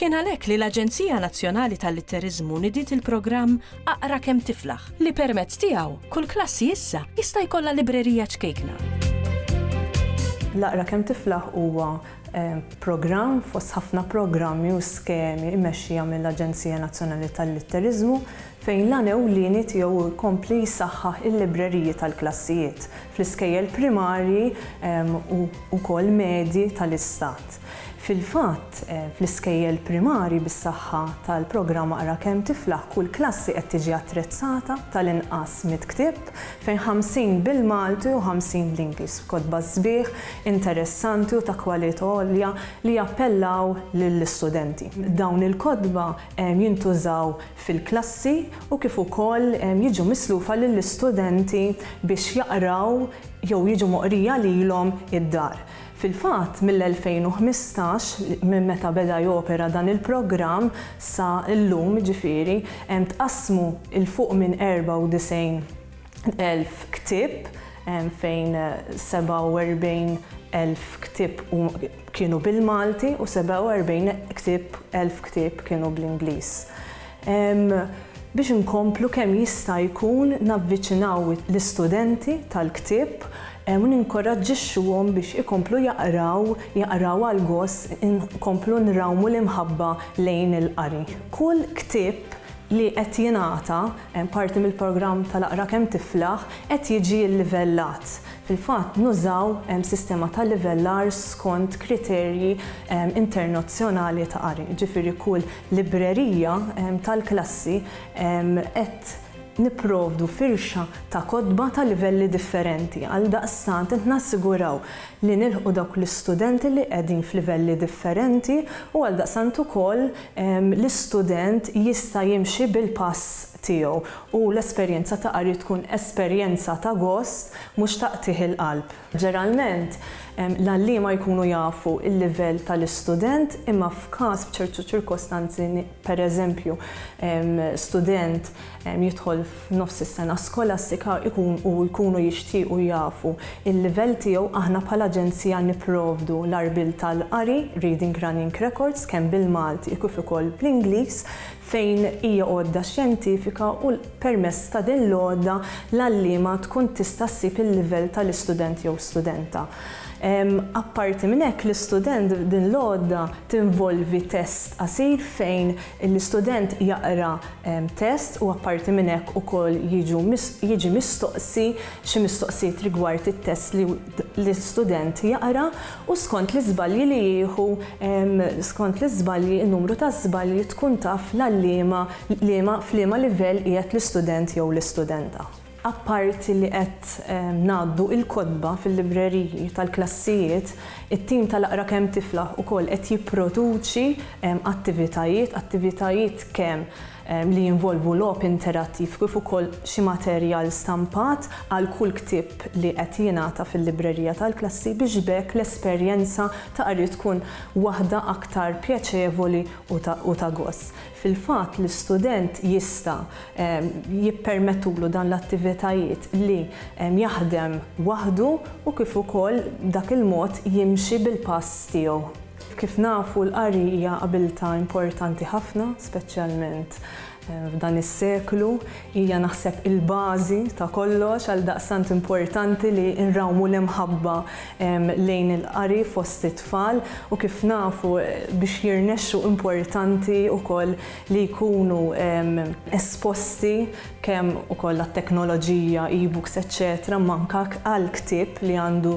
Kien għalhekk li l-Aġenzija Nazzjonali tal-Litteriżmu nidiet il-programm Aqra Kemm Tiflaħ li permezz tiegħu kull klassi issa jista' jkollha librerija ċkejkna. L-Aqra Kemm Tiflaħ huwa programm fost ħafna programmi u skemi mmexxija mill-Aġenzija Nazzjonali tal-Litteriżmu fejn l-għan ewlieni tiegħu hu jkompli jsaħħaħ il-libreriji tal-klassijiet fl-iskejjel primarji u wkoll medji tal-Istat. Fil-fatt, fl-iskejjel primarji bis-saħħa tal-programm Aqra Kemm Tiflaħ kull klassi qed tiġi attrezzata tal-inqas mitt ktieb, fejn 50 bil-Malti u 50 bl-Ingliż, b'kotba sbieħ, interessanti u ta' kwalità għolja li jappellaw lill-istudenti. Dawn il-kotba jintużaw fil-klassi u kif ukoll jiġu mislufa lill-istudenti biex jaqraw jew jiġu moqrija lilhom id-dar. Fil-fatt, mill-2015, minn meta beda jopera dan il-programm sa llum jiġifieri, hemm tqassmu 'l fuq minn 94 elf ktieb fejn 47 elf ktieb kienu bil-Malti u 47 elf ktieb kienu bl-Ingliż. biex inkomplu kemm jista' jkun navviċinaw l-istudenti tal-ktieb u ninkoraġġixxuhom biex ikomplu jaqraw, jaqraw għal gost, inkomplu nrawmu l-imħabba lejn il-qari. Kull ktieb li qed jingħata, parti mill-programm tal-Aqra Kemm Tiflaħ, qed jiġi llivellat. Fil-fatt, nużaw sistema ta' livellar skont kriterji internazzjonali ta' qari, jiġifieri kull librerija tal-klassi qed nipprovdu firxa ta' kotba ta' livelli differenti. Għaldaqstant qed nassiguraw li nilħqu dawk l-istudenti li qegħdin f'livelli differenti u għaldaqstant ukoll l-istudent jista' jimxi bil-pass tiegħu u l-esperjenza ta' qari tkun esperjenza ta' gost mhux ta' qtigħ il-qalb. Ġeralment, l-għalliema jkunu jafu l-livell tal-istudent imma f'każ b'ċertu ċirkostanzi, pereżempju, student jidħol f'nofs is-sena skolastika u jkunu jixtiequ jafu l-livell tiegħu, aħna bħala aġenzija nipprovdu l-għarbiel tal-qari, reading running records, kemm bil-Malti kif ukoll bl-Ingliż, fejn hija għodda xjentifika u permezz ta' din l-għodda l-għalliema tkun tista' ssib il-livell tal-istudent jew studenta. Apparti minn hekk, l-istudent din l-għodda tinvolvi test qasir fejn l-istudent jaqra test u apparti minn hekk ukoll jiġu jiġi mistoqsi xi mistoqsijiet rigward it-test li l-istudent jaqra. u skont l-iżbalji li jieħu skont l-iżbalji n-numru ta' żbalji tkun taf l-għal liema liema f'liema livell qiegħed l-istudent jew l-istudenta. Apparti li qed ngħaddu il-kotba fil-libreriji tal-klassijiet, it-tim tal-Aqra Kemm Tiflaħ ukoll qed jipproduċi attivitajiet attivitajiet kemm li jinvolvu logħob interattiv kif ukoll xi materjal stampat għal kull ktieb li qed jingħata fil-librerija tal-klassi biex b'hekk l-esperjenza ta' qari tkun waħda aktar pjaċevoli u ta' gost. Fil-fatt, l-istudent jista' jippermettulu dan l-attivitajiet li jaħdem waħdu u kif ukoll b'dak il-mod jimxi bil-pass tiegħu. Kif nafu, l-qari hija abiltà importanti ħafna, speċjalment f'dan is-seklu. Hija naħseb il-bażi ta' kollox, għaldaqstant importanti li nrawmu l-imħabba lejn il-qari fost it-tfal u kif nafu biex jirnexxu importanti wkoll li jkunu esposti kemm ukoll għat-teknoloġija, e-books eċċetera imma anke għall-ktieb li għandu